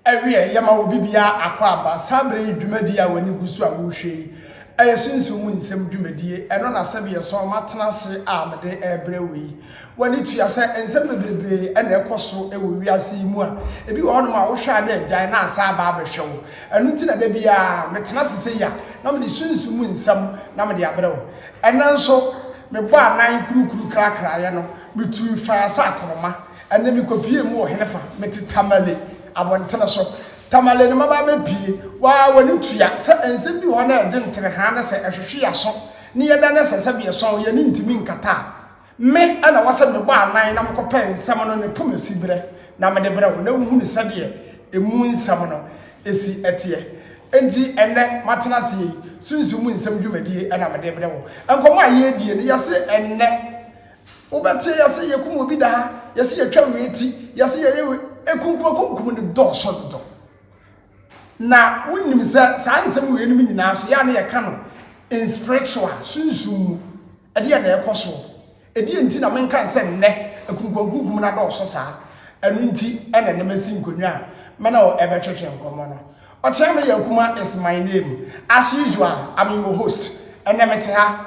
Awiei, yɛma obi biara akwaaba. Saa bere yi dwumadi a w'ani gu so a worehwɛ yi yɛ Sunsum mu Nsɛm dwumadi. Ɛno na sɛbeɛ sɔn matena ase a mede rebrɛ wo yi. W'ani tua sɛ nsɛm bebrebe na ɛkɔ so wɔ wiase yi mu a ebi wɔ hɔnom a wohwɛ a na agyae na asan aba abɛhwɛ wo. Ɛno nti na da biara metena ase sei a na mede Sunsum mu Nsɛm na mede abrɛ wo. Ɛnnɛ nso, mebɔɔ anan kurukuru krakraeɛ no, metui faa sɛ akoroma. Ɛnna mikopiee mu wɔ henefa? Mete Tamale abɔntene so. Tamale no mmabaa bɛpue. Waa w'ani tua sɛ nsɛm bi wɔ hɔ na ɛgye nterehaa na sɛ ɛhwehwe yɛn aso ne yɛn dan sɛ sɛbeɛsɔn yɛn ani ntumi nkata a, me na ɛwɔ sɛ mebɔ anan na mekɔpɛ nsɛm no ne poma siberɛ na mede brɛ wo na wohunu sɛdeɛ ɛmu nsɛm no si teɛ. Enti ɛnnɛ matena ase yi, Sunsum mu nsɛm dwumadie na mede rebrɛ wo. Nkɔmmɔ a yɛredie no, yɛse ɛnnɛ. Wobɛte yɛ se yɛkum obi da ha, yɛ se yɛtwa wei ti, yɛ se yɛyɛ wei. Ekunkumakunkum no dɔɔso dodo. Na wonim sɛ saa nsɛm wei nom nyinaa so yɛ a na yɛka no in spiritual, sunsum mu. Ɛdeɛ na ɛkɔ soɔ. Ɛdeɛ nti na menka sɛ nnɛ ekunkumakunkum no adɔɔso saa. Ɛno nti ɛna nnɛ masi nkonnwa a mene wo ɛbɛtwetwe nkɔmmɔ no. Ɔkyea me yɛ akuma is my name. As usual, I'm your host. Ɛnɛ mete ha.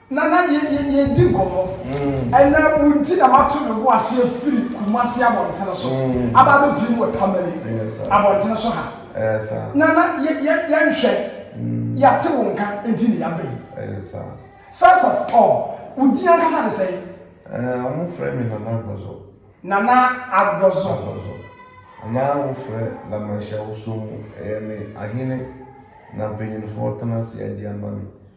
Nana yɛ yɛ yɛdi nkɔmɔ ɛnɛ wo nti na mato me bo ase afiri Kumasi abɔntene so aba abɛpie mu wɔ Tamale abɔntene so ha Nana yɛ yɛ yɛnhwɛ yɛate wo nka nti na yɛaba yi first of all wo din ankasa de sɛn wɔn frɛ me Nana Agbɔzɔ Nana Agbɔzɔ anaa wo frɛ Lamanhyɛ woso mu ɛyɛ me ahene na mpanyinfoɔ tena ase adi ama me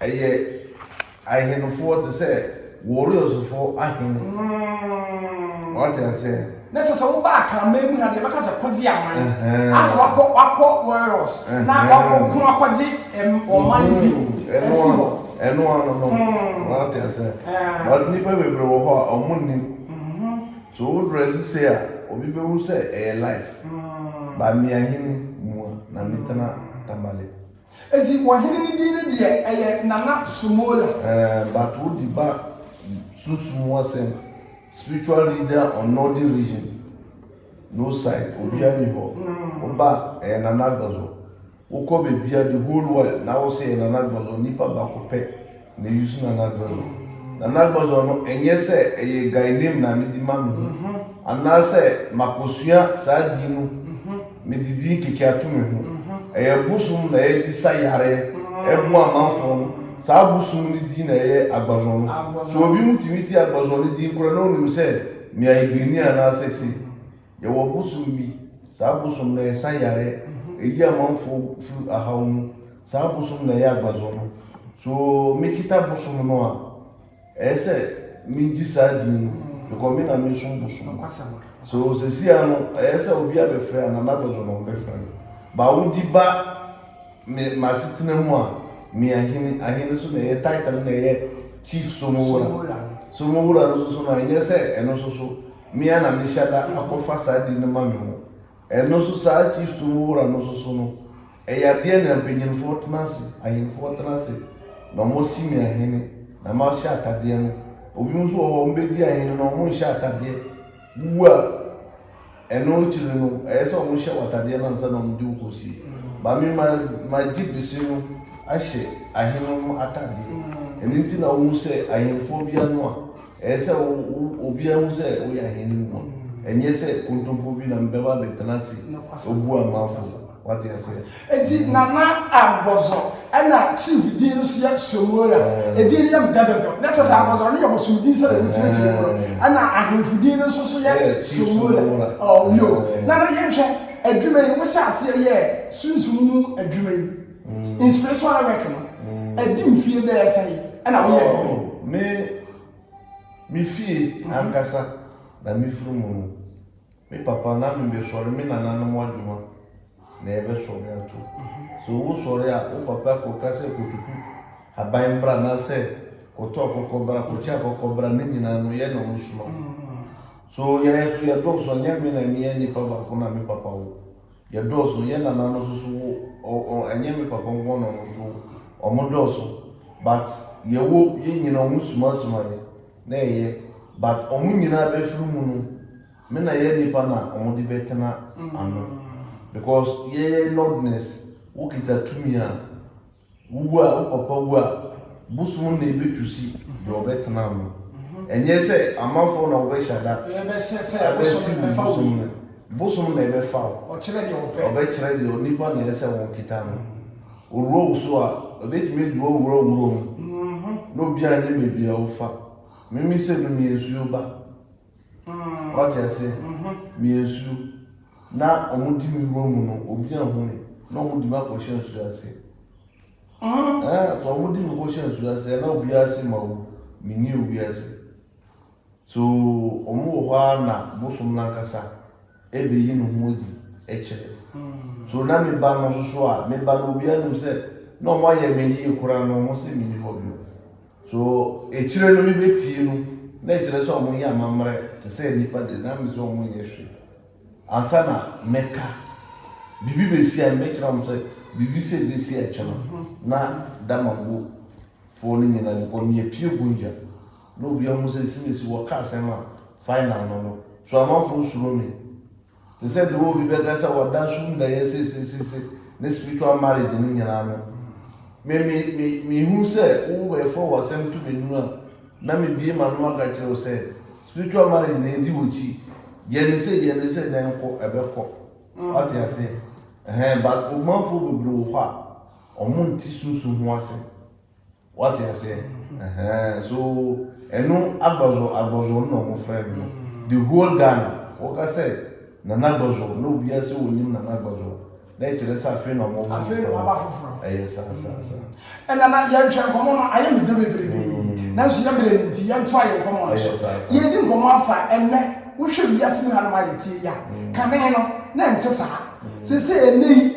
Ɛyɛ ahenefoɔ te sɛ Warriors-foɔ ahene. Wate aseɛ? Na kyerɛ sɛ woba akanman mu ha deɛ bɛka sɛ kɔgye aman. Ɛhɛn. Asɛ wakɔ wakɔ Warriors na Ɛhɛn. wakɔ ko akɔgye ɛm ɔman bi Ɛno asi ano, hɔ. ɛno ano no. Hmm. Wate aseɛ? Ɛhɛn. But nnipa bebree wɔ hɔ a, wɔn nnim. So wo dress sei a, obi bɛhu sɛ ɛyɛ life. But me ahene mua na metena Tamale. Enti wɔhene no din no deɛ ɛyɛ Nana Somola. Ɛɛ but wo di ba sunsum mu asɛm spiritual leader on northern region no side obia ni hɔ wo ba ɛyɛ nana agbazo wo kɔ bebia the whole world na wo se ɛyɛ nana agbazo nipa bako pɛ na eyi so na n'adɔe no. Na n'agbadɔ no, ɛnyɛ sɛ ɛyɛ Guy name na mede ma me ho, anaasɛ makosua saa din no, mede din kɛkɛ ato me ho. Ɛyɛ bosom na yɛde sa yareɛ boa amanfoɔ no, saa bosom no din na ɛyɛ Agbazɔn no. So obi mu tumi te Agbazɔn no din koraa na ɔnim sɛ me a Igbeni anaasɛ sei? Yɛwɔ bosom bi, saa bosom no ɛsa yare, ɛyi amanfoɔ firi ahaw mu, saa bosom na ɛyɛ agbazɔ no. So me kita bosom no a, ɛyɛ sɛ me gye saa din no, because me na me som bosom no. So sɛsi a no, ɛyɛ sɛ obi abɛfrɛ a, Nana Agbazɔ na ɔmbɛfrɛ no. Ba wodi ba me m'asetena mu a, me ahene, ahene so na ɛyɛ title na ɛyɛ Chief Somowura. Somowura no nso so no, ɛnyɛ sɛ ɛno nso so. Me ara na mehyɛ da akɔfa saa di no ma me ho. Ɛno nso saa Kristo mu wura no nso so no, ɛyɛ adeɛ na mpanyinfoɔ tena ase, ahenfoɔ tena ase, na wɔasi me ahene, na mahyɛ atadeɛ no. Obinom nso wɔ hɔ a wɔbɛdi ahene na wɔnhyɛ atadeɛ. Wowu a, ɛno akyiri no, ɛyɛ sɛ wɔhyɛ wo atadeɛ no ansa na wɔde wo kɔsie. Ba me ma magye bese no ahyɛ ahene no atadeɛ. Ɛno nti na wohu sɛ ahenfoɔ biara no a Ɛyɛ sɛ obiara hu sɛ woyɛ ahenni mu ma, ɛnyɛ sɛ kontompo bi na mebɛba abɛtena ase abu amamfo. Wate aseɛ? Enti Nana Agbɔzɔ ɛna chief din no so yɛ Somoya. Edin no yɛ mdɛdɛdɛ. Na kyɛ sɛ Agbɔzɔ no yɛ bosom din sɛdeɛ wokyerɛkyerɛ mu no. Ɛna ahemfo din no nso so yɛ Somoya. Oh, yo. Nana yɛnhwɛ adwuma yi, wohyɛ aseɛ yɛɛ sunsum mu adwuma yi. Inspirational work no, ɛdi mfie bɛyɛ sɛ yi ɛna woyɛ no. Oh, me, me fie ankasa na me firi mu no, me papa na me bɛsɔre me nananom adwuma na yɛbɛsɔre ato. So wo sɔre a, wo papa kɔka sɛ kɔtutu haban mbra na sɛ kɔtɔ akɔkɔ bra, kɔkyɛ akɔkɔ bra, ne nyinaa no yɛ na ɔmo soma. So yɛyɛ so yɛdɔɔso, ɛnyɛ me na meyɛ nipa baako na me papa wo. Yɛ dɔɔso yɛ nana no soso wo ɔ ɛnyɛ me papa nko na ɔmo so ɔmo dɔɔso but yɛ wo yɛ nyina ɔmo suma suma yɛ na ɛyɛ but ɔmo nyina bɛ firi mu no me na yɛ nipa na ɔmo de bɛ tena ano because yɛ yɛ nordness wo kita tumi a Wo wu a, wo papa wu a, bosom na ebetu si deɛ ɔbɛtena ano. Ɛnyɛ sɛ amanfoɔ na wɔbɛhyɛ da abɛsiw wo bosom no, bosom na ɛbɛfa wo. Ɔbɛkyerɛ deɛ onipa na ɛsɛ sɛ wɔketa no. Owura wo so a, ebetumi adi w'awura wuram, na obiara nnim baabi a wofa. Mimi sɛ, Mimi nsuo ba. Wate ase? Meyɛ nsuo. Na wɔde me wura mu no, obi anhu me, na wɔde me akɔhyɛ nsuo ase. Ɛɛ, so wɔde me kɔhyɛ nsuo ase, na obiara se ma wu, menni owi ase. So wɔwɔ hɔ ara na bosom no ankasa. ɛbɛyi ne ho adi kyerɛ. So na me ba no nso so a, me ba no obiara nim sɛ na wɔayɛ me yie koraa na wɔn sɛ menni hɔ bio. So akyire no mebɛpie no, na ɛkyerɛ sɛ wɔyɛ amammerɛ te sɛ nnipa de, na me sɛ wɔn nyɛ hwee. Ansa na mɛka, biribi bɛsi a mɛkyerɛ wɔn sɛ biribi sɛ bɛsi akyɛ no, na Damango foɔ no nyinaa, because meyɛ pure Gunja, Na obia hu sɛ simesi wɔ ka asɛm a final no no so amanfoɔ nsuro me te sɛ deɛ obi bɛka sɛ ɔda so nnɛyɛ sesesese ne spiritual marriage no nyinaa no me me me mehu sɛ wo bɛfoɔ wɔ asɛm to m'anunu a na mebie ma no maka kyerɛ wo sɛ spiritual marriage na ɛdi wɔ kyi yɛne sɛ yɛne sɛ na ɛnkɔ ɛbɛkɔ wate aseɛ ɛhɛn but ɔmanfoɔ bebree wɔ hɔ a ɔmo nti sunsum ho asɛm Wate aseɛ? Ɛhɛn, so ɛno Agbazo Agbazo no na wɔn frɛ no no. Mm. The whole Ghana, wɔka sɛ Nana Agbazo na obiara sɛ wɔnim Nana Agbazo a, na ɛkyerɛ sɛ afei na wɔn Afei na waba foforɔ. Ɛyɛ saa saa saa. Mm. Ɛna na yɛnhwɛ nkɔmɔ no ayɛ me dɛ bebrebe. Mm. Nanso yɛ berɛ no nti yɛntoa yɛ nkɔmɔ no so. Ɛyɛ saa saa. Yɛredi nkɔmɔ afa ɛnɛ wohwɛ wiase mu hanom a yɛtie yi a, mm. kane no na ɛnte saa. Mm. Sese ɛnɛ yi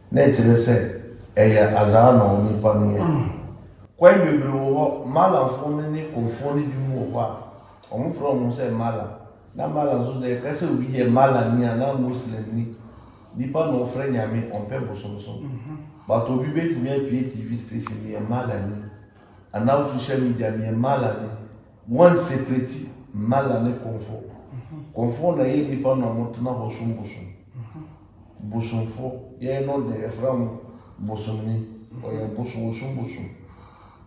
Na ɛkyerɛ sɛ ɛyɛ azaa na onipa no yɛ. Kwan bebree wɔ hɔ, Malafo no ne Konfo no binom wɔ hɔ a, wɔfrɛ wɔn sɛ Mala. Na Mala nso deɛ, ɛka sɛ obi yɛ Malani anaa Muslimni, nipa na ɔfrɛ Nyame, ɔmpɛ bosomsom. But obi bɛtumi apue TV station, meyɛ Malani, anaa social media, meyɛ Malani. Wɔn seprɛti Mala ne Konfo. Konfo na ɛyɛ nnipa na wɔn tena hɔ som bosom. Bosomfo, yɛn no deɛ yɛfrɛ wɔn bosomni. Ɔyɛ bosom, ɔsom bosom.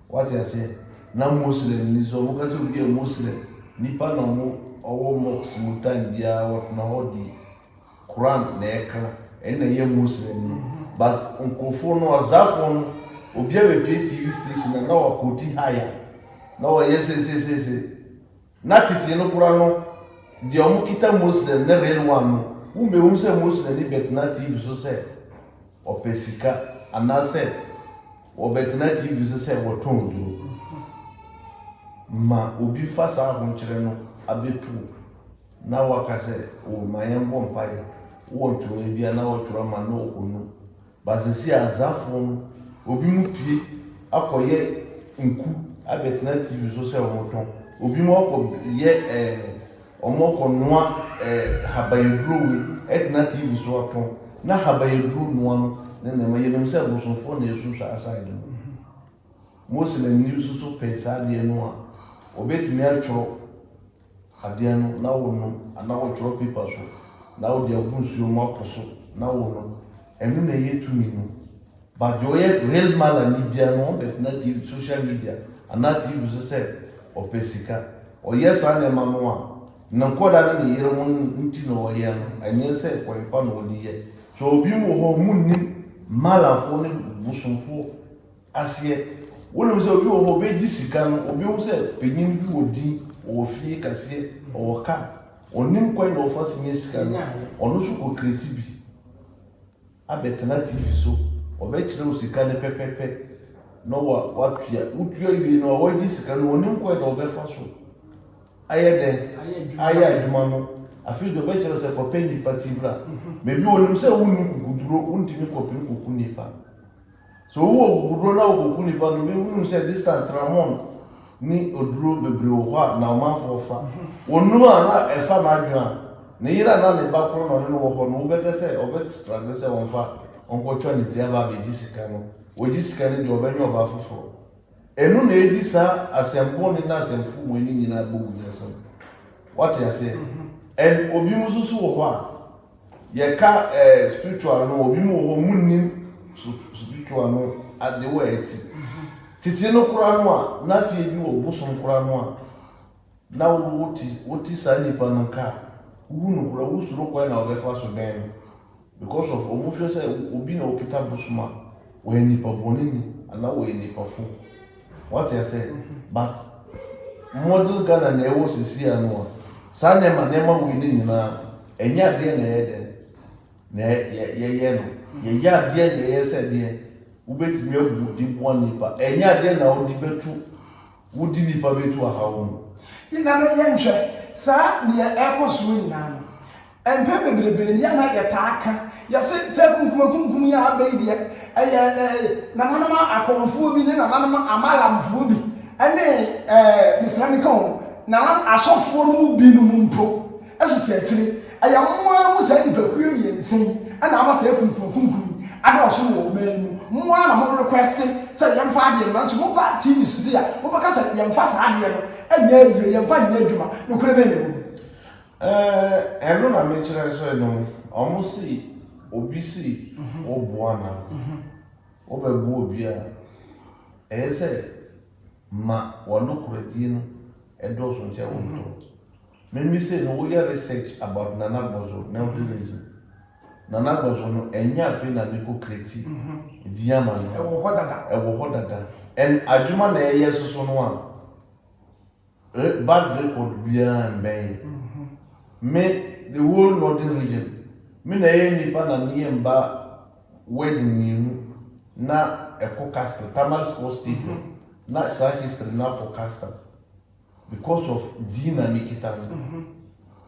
Wate aseɛ? Na Moslem ni nso, wɔn ka sɛ obi yɛ Moslem, nnipa na wɔn ɔwɔ mosque mu time biara wɔtena hɔ di Quran na ɛka ɛno na ɛyɛ Muslim no but nkorɔfoɔ no ɔzafoɔ no obia bɛpie TV station a na wakɔti haya na wɔyɛ sesesese na tete no kora no deɛ ɔmo kita Muslim ne real one no wo mbɛhunu sɛ Muslim ni bɛtena TV so sɛ ɔpɛ sika anaasɛ wɔbɛtena TV so sɛ wɔtɔn duro ma obi fa saa ahonkyerɛ no abɛtuo Na wɔaka sɛ, O, ma yɛmbɔ mpae wɔ ntwerɛeɛ bi a na wɔtwerɛ ma no ɔkɔnu. But seesei Azaafoɔ no, obinom pue akɔyɛ nku abɛtena TV so sɛ wɔtɔn. Obinom akɔ yɛ ɛɛ, wɔkɔ noa ɛɛ habayaduro wei ɛtena TV so atɔn. Na habayaduro noa no ne nneɛma, yɛnim sɛ bosomfoɔ na ɛsu saa side no. Muslimni nso so pɛ saa adeɛ no a, ɔbɛtumi atwerɛ adeɛ no na wonom anaa wotwerɛ paper so na wode agu nsuo mu apo so na wonom ɛno na ɛyɛ tumi no but deɛ ɔyɛ real malani bia no ɔbɛtena tv social media anaa tv so sɛ ɔpɛ sika ɔyɛ saa nneɛma no a ne nkɔda ne ne yere ho nti na ɔyɛ no ɛnyɛ sɛ kwan pa na ɔde yɛ so obi mu wɔ hɔ ɔmo nim malafoɔ ne bosomfoɔ aseɛ. Wonim sɛ obi wɔhɔ obɛgye sika no obɛhu sɛ panyin bi wɔ din ɔwɔ fie kaseɛ ɔwɔ car ɔnim kwan na ɔfa so nya sika no ɔno nso kɔ kreti bi abɛtena TV so ɔbɛkyerɛ wo sika no pɛpɛpɛ na wa watua wotua wie no a wagye sika no ɔnim kwan na ɔbɛfa so ayɛ dɛn ayɛ adwuma no afei deɛ ɔbɛkyerɛ sɛ kɔpɛ nnipa ti bra baabi ɔnim sɛ wonni kukuduro wontumi kɔpene kuku nnipa Sɛ owu wɔ kokodur na wokoku nipa no, ibehu sɛ Distan Tramon ne oduro bebree wɔ hɔ a na ɔmanfoɔ fa. Wonum a na ɛfa n'adwene a ne yere anaa ne ba koro na ɔne no wɔ hɔ no, wobɛka sɛ ɔbɛstraggle sɛ ɔmfa ɔnkɔtwa ne ti aba abegye sika no. Ogye sika no deɛ, ɔbɛnyɛ ɔbaa foforɔ. Ɛno na edi saa asɛm bone ne asɛm fomue no nyinaa bogu no nsam. Woate aseɛ? Ɛn, obinom nso so wɔ hɔ a. Yɛka eh spiritual no obi mu wɔ hɔ ɔmo nnim spiritual no ade wɔ ɛti. Tete no kora no a na afei ebi wɔ bosom kora no a na wote wote saa nipa no nka a wohu no kora wosuro kwan na ɔbɛfa so bɛn no because of ɔmo hwɛ sɛ obi na okita bosom a wɔyɛ nipa bɔne ni anaa wɔyɛ nipa fo. Wate aseɛ? But modern Ghana na ɛwɔ sisi a no a, saa nneɛma nneɛma wei no nyinaa no, ɛnyɛ adeɛ na ɛyɛ dɛn na yɛyɛ no. Yɛyɛ adeɛ na ɛyɛ sɛ deɛ wobɛtumi abu de boa nnipa. Ɛnyɛ adeɛ na wode bɛtu, wode nnipa bɛtu ahaw mu. Nana yɛnhwɛ saa deɛ ɛkɔ soɔ nyinaa no. Mpɛn bebrebe ni a na yɛtaa ka, yɛse sɛ kunkumakunkum yi a aba yi deɛ, ɛyɛ nananom Akɔmfoɔ bi ne nananom Amalamfoɔ bi ne, mesrɛ me ka o, nananom Asɔfoɔ no mu binom mpo sisi akyire. Ɛyɛ wɔn ara mu saa nnipakuo mmiɛnsa yi na ama saa kunkumakunkum yi adɔɔso wɔ ɔman yi mu. Mo ara na mo requeste sɛ yɛmfa adeɛ no, nanso moba TV so sei a, mobɛka sɛ yɛmfa saa adeɛ no nyɛ aduro, yɛmfa nyɛ adwuma. Nokorɛ bɛn na ɛwɔ mu? Ɛno na mekyerɛ nso no mu ɔmo se obi se ɔboa no a ɔbɛboa obi a ɛyɛ sɛ ma wanokorɛdie no ɛdɔɔso nkyɛn wɔn tɔ mimi se no woyɛ research about nana gbɔzo na ɔde ne nso nana gbɔzo no ɛnyɛ afei na ne ko kreti din ama no ɛwɔ hɔ dada ɛwɔ hɔ dada ɛn adwuma na ɛyɛ soso no a. Bad record biara mbɛn me the whole northern region me na ɛyɛ nipa na me yɛ mba wedding mienu na ɛkɔ castle tamale sports stadium na saa history na kɔ castle because of din na me kita no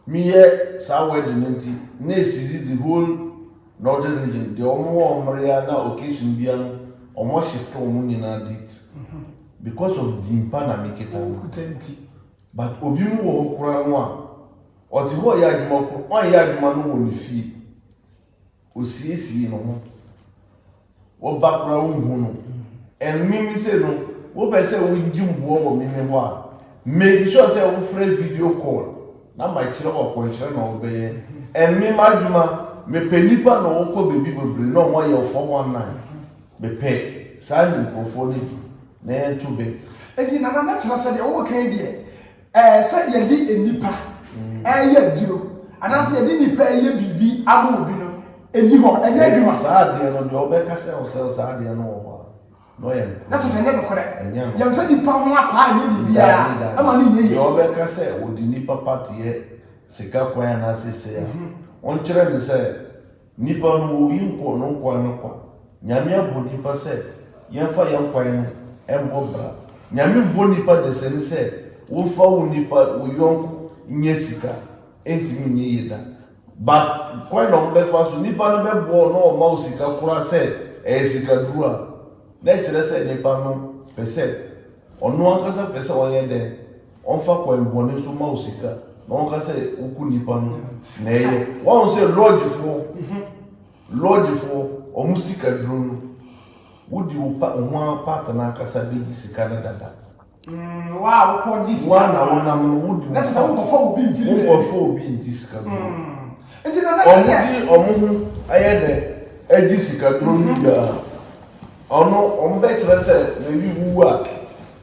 Me yɛ saa wedding no nti na ɛsizi the whole northern region deɛ ɔmo wɔ mmereɛ na occasion biara no ɔmo ahyɛ sika ɔmo nyinaa date because of din pa na me kita no okuta nti but obi mo wɔ hɔ koraa no a ɔte hɔ yɛ adwuma koro ɔnyɛ adwuma no wɔ ne fie. Osiesiee no ho. Wɔba koraa wonhu no. And me me se no, wopɛ sɛ wogye mboa wɔ me me hɔ a, make sure sɛ wofrɛ video call na makyerɛ wo akwankyerɛ na wobɛyɛ. And me m'adwuma, mepɛ nipa na wɔkɔ baabi bebree na wɔyɛ wo 419. Mepɛ saa nkurɔfoɔ no bi na yɛnto bet. Enti Nana na kyerɛ sɛ deɛ wowɔ ka yi deɛ Ɛɛ sɛ yɛde nnipa reyɛ aduro anaasɛ yɛde nnipa reyɛ biribi ama obi no ɛni hɔ ɛnyɛ adwuma. saa adeɛ no deɛ ɔbɛka sɛ ɔsɛ saa adeɛ no wɔ hɔ a na ɔyɛ nokorɛ na sɛ sɛ ɛnyɛ nokorɛ yɛmfa nnipa ho akwaa ɛnyɛ biribiara ɛma no nyɛ yie deɛ ɔbɛka sɛ ɔde nnipa part yɛ sika kwan anaasɛ sei a ɔnkyerɛ no sɛ Nnipa no wɔ oyi nkɔ no nkwa no kwa. Nyame abɔ nnipa sɛ yɛmfa yɛn kwan no mbɔ bra. Nyame mbɔ nnipa desani sɛ womfa wo nnipa, wo yɔnko nyɛ sika. Entumi nyɛ yie da. But kwan na wɔbɛfa so, nnipa no bɛboa wo na wɔma wo sika koraa sɛ ɛyɛ sikaduro a, na ɛkyerɛ sɛ nnipa no pɛ sɛ, ɔno ankasa pɛ sɛ ɔyɛ dɛn? Ɔnfa kwan bɔne so ma wo sika na ɔnka sɛ woku nnipa no na ɛyɛ. Wahu sɛ lɔɔgyefoɔ, lɔɔgyefoɔ, wɔn sika duro no, wodi wo pa, wo ho ara part no ankasa bɛgye sika no dada. Mm, wo a wokɔ gye sika. Wo a na wonam no, wodi wo part. Na kyerɛ sɛ wonkɔfa obi mfiri baabi. Wonkɔfa obi ngye sika duro. Mm. Nti na na wɔn de wɔn ho ayɛ dɛ agye sika duro no wie a, ɔno wɔbɛkyerɛ sɛ maybe wowu a,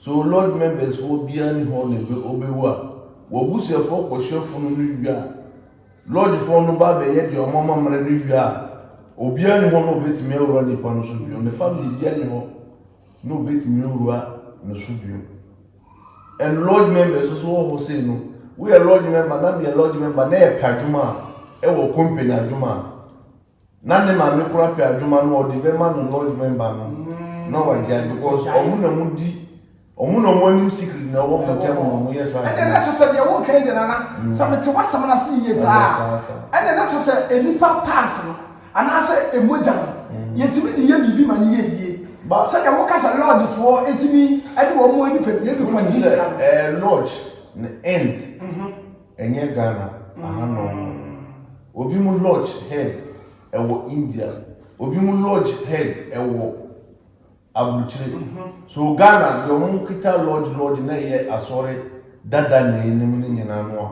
Sɛ wo lodge members foɔ biara nni hɔ na ɔbɛwu a, w'abusuafoɔ kɔhwɛ funu no wie a, lodge foɔ no ba bɛyɛ deɛ wɔn amammerɛ no wie a, obiara nni hɔ na ɔbɛtumi awura nipa no so bio, ne family biara nni hɔ na ɔbɛtumi awura ne so bio. And lodge members nso wɔ hɔ sei no, woyɛ lodge member na meyɛ lodge member na yɛpɛ adwuma a, ɛwɔ company adwuma a, Na ne maame kora pɛ adwuma no ɔde bɛma no lodge member no na wagyae because ɔmo na ɔmo di ɔmo na ɔmo anim secret na ɛwɔ ɔmo tɛm na ɔmo yɛ saa ɛnna na kyɛ sɛ deɛ wɔreka yi deɛ nana mm. sɛ mete w'asɛm no ase yie paa ɛnna na kyɛ sɛ nnipa pass no anaasɛ emogya no mm. yɛtumi de yɛ biribi ma no yɛ yie sɛdeɛ woka sɛ lodgefoɔ ɛtumi ɛde wɔn nipadua bi kɔ di sika no eh, lodge na end mhm. Ɛnyɛ Ghana aha nom no. Obi mo lodge head ɛwɔ India. Obi mo lodge head ɛwɔ abrukyire. So Ghana deɛ ɔmo kita lodge lodge na ɛyɛ asɔre dada na enim no nyina no a,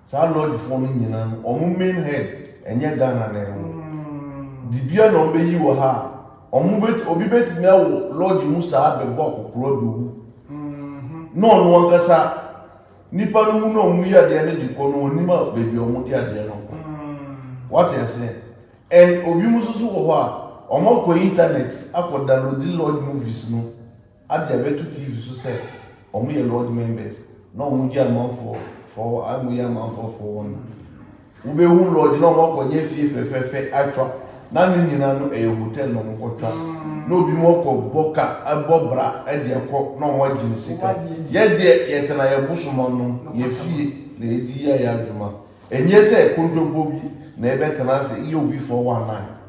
saa lodge foɔ no nyina no ɔmo main head ɛnyɛ Ghana na ɛwɔ. Dibia na ɔmo bɛyi wɔ ha a, ɔmo bɛti obi bɛtumi awɔ lodge mu saa bɛbɔ akɔkora bɛwu na ɔno ankasa. Nnipa no wu na wɔn yi adeɛ no de kɔ no wɔn nim a baabi a wɔn de adeɛ no kɔ. Wate aseɛ? And obi mu nso so wɔ hɔ a wɔn akɔ internet akɔ download lodge movies no ade abɛto TV so sɛ wɔn yɛ lodge members na wɔn gye amanfoɔ for wɔn yɛ amanfoɔ for wɔn. Wobɛhu lodge na wɔakɔnyɛ fie fɛfɛɛfɛ atwa na ne nyinaa no ɛyɛ hotel na wɔkɔtwa na obi mu ɔkɔ bɔ ka ɛbɔ bra ɛde ɛkɔ na wɔn agye ne sika yɛ deɛ yɛtena yɛ bosoma nom yɛ fie na yɛdi yɛ yɛ adwuma ɛnyɛ sɛ kontompo bi na yɛbɛtena ase yɛ obi 419.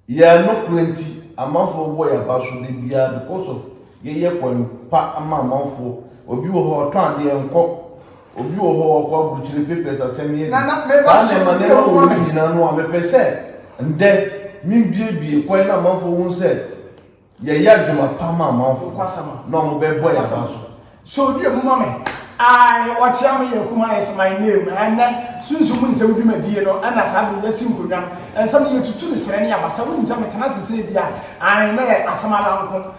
Yɛn nokorɛ nti amanfoɔ bɔ yɛn abaso da biara because of yɛyɛ kwan pa ama amanfoɔ. Obi wɔ hɔ ɔtɔn adeɛ nkɔ, obi wɔ hɔ ɔkɔ aburukyire papers asɛm yɛ bi. Saa nneɛma nneɛma wɔ mu nyinaa no a mepɛ sɛ ndɛ me biebie kwan na amanfoɔ hu sɛ. Yɛyɛ adwuma pa ma amanfo na ɔmo bɛ bɔ yɛn aban so. So odi emu ma me? Ae, ɔkyea me yɛ Kuma is my name. Ɛnnɛ, sunsum mu nsɛm dwumadie no na saa bere yi asi nkonnwa no. Ɛnsɛ me yɛtutu ne serɛ ne abasa. Wonim sɛ me tena ase sɛ bi a, ae, na yɛ asɛm ara nko.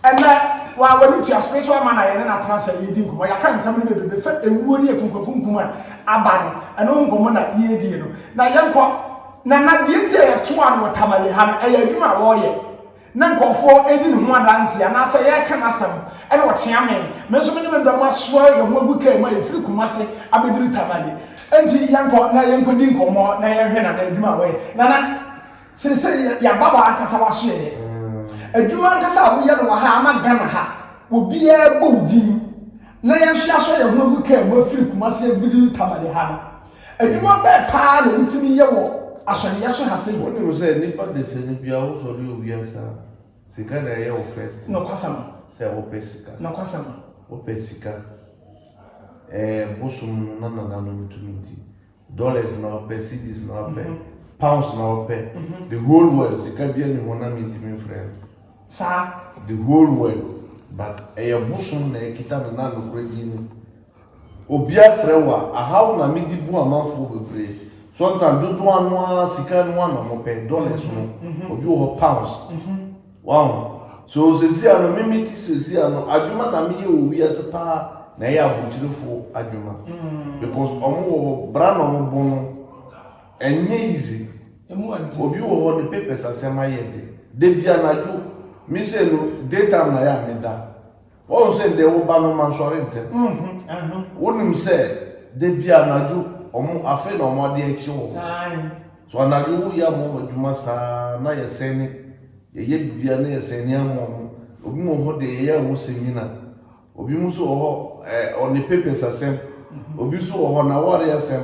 Ɛnnɛ, wa, w'ani tua spiritual man a yɛne no atena ase a yɛredi nkɔmmɔ. Yɛaka nsɛm no bebrebe fa ewuo ne akunkuakunkum a aba no, ɛno ho nkɔmmɔ na yɛredie no. Na yɛnkɔ. Nana, deɛ nti a yɛtoaa no wɔ Tamale ha no, ɛyɛ adwuma a wɔreyɛ. na nkurɔfoɔ redi ne ho adanseɛ anaasɛ yɛreka n'asɛm na wɔkyea me. Me nso me ne me dɔm asoa yɛn ho agu kaa mu a yɛfiri Kumasi abɛduru Tamale. Enti yɛnkɔ na yɛnkɔdi nkɔmmɔ na yɛnhwɛ Nana adwuma a wɔyɛ. Nana, seesei yɛaba hɔ ankasa w'asoɛeɛ. Adwuma ankasa a woyɛ no wɔ ha ama Ghana ha, obiara bɔ wo din na yɛn nso yɛasɔ yɛn ho agu kaa mu afiri Kumasi abɛduru Tamale ha no, Adwuma bɛn paa na wotumi yɛ wɔ asɔreyɛ so ha sei? Wonim sɛ nipa desani biara wosɔre owia saa a sika na ɛyɛ wo first thing Nokwasɛm. sɛ wopɛ sika Nokwasɛm. wopɛ sika ɛɛ bosom no na nananom tumi di dollars na wɔpɛ cedis na wɔpɛ pounds na wɔpɛ the whole world sika bia ni hɔ na mentumi mfrɛ no Saa. the whole world but ɛyɛ bosom na ɛkita no na nokorɛ din no Obia frɛ wo a ahaw na me de bu amanfoɔ bebree sometimes dodoa no ara sika no ara na ɔmo pɛ dollars no obi wɔ hɔ pounds waho so sesia no me me ti sesia no adwuma na me yɛ wɔ wiase paa na ɛyɛ abrokyirefo adwuma because ɔmo wɔ hɔ bra na ɔmo bɔ no ɛnyɛ easy obi wɔ hɔ ne papers asɛm ayɛ de da bi anadwo me sɛ no day time na yɛ a me da. Woahu sɛ deɛ wo ba no mma nsɔre ntɛm? Wonim sɛ da biara anadwo wɔn afei na wɔn adeɛ rekye wɔn? So anadwo woyɛ ama wɔn adwuma saa ara na yɛsɛn ne yɛyɛ biribiara na yɛsɛn ne ama wɔn? Obi wɔ hɔ deɛ yɛyɛ a ɔwɔ sɛmina, obi nso wɔ hɔ ɔne papers asɛm, obi nso wɔ hɔ n'awareɛ asɛm.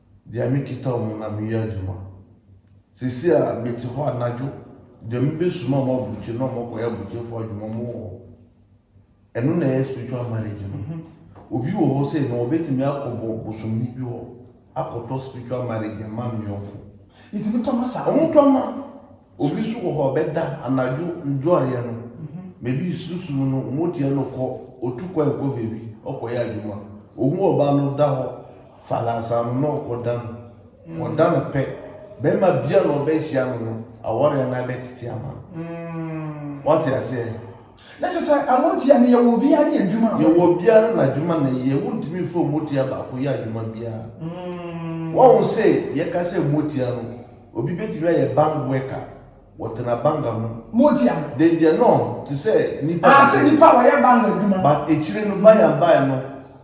Deɛ mekita wɔn na meyɛ adwuma. Seesei a mete hɔ anadwo deɛ mebɛsuma wɔn aburokyire na wɔakɔyɛ aburokyerefoɔ adwuma wɔn wɔ hɔ. Ɛno na ɛyɛ spiritual marriage no. Obi wɔ hɔ sei no ɔbɛtumi akɔbɔ bosomni bi hɔ akɔtɔ spiritual marriage ama ne yɔnko. Yɛtumi tɔ ma saa. Wɔtɔ ma. Obi nso wɔ hɔ a ɔbɛda anadwo ndworeɛ no baabi sunsum no motia no kɔ ɔtu kwan kɔ baabi ɔkɔyɛ adwuma ɔhu ɔbaa no da hɔ falasa no na ɔkɔda no ɔda no pɛ bɛrima bia na ɔbɛhyia no no awareɛ no abɛtete ama no wate aseɛ Na kyerɛ sɛ ano ntia no yɛwɔ obiara ne adwuma a wɔyɛ. Yɛwɔ obiara ne n'adwuma na ɛyɛ. Wontumi mfa omotia baako yɛ adwuma biara. Woahu sɛ yɛka sɛ motia no, obi betumi ayɛ bank worker, wɔtena bank ano. Motia no. Then deɛ no te sɛ nipa. Ahaa sɛ nipa a wɔyɛ bank adwuma. But akyire no by and by no.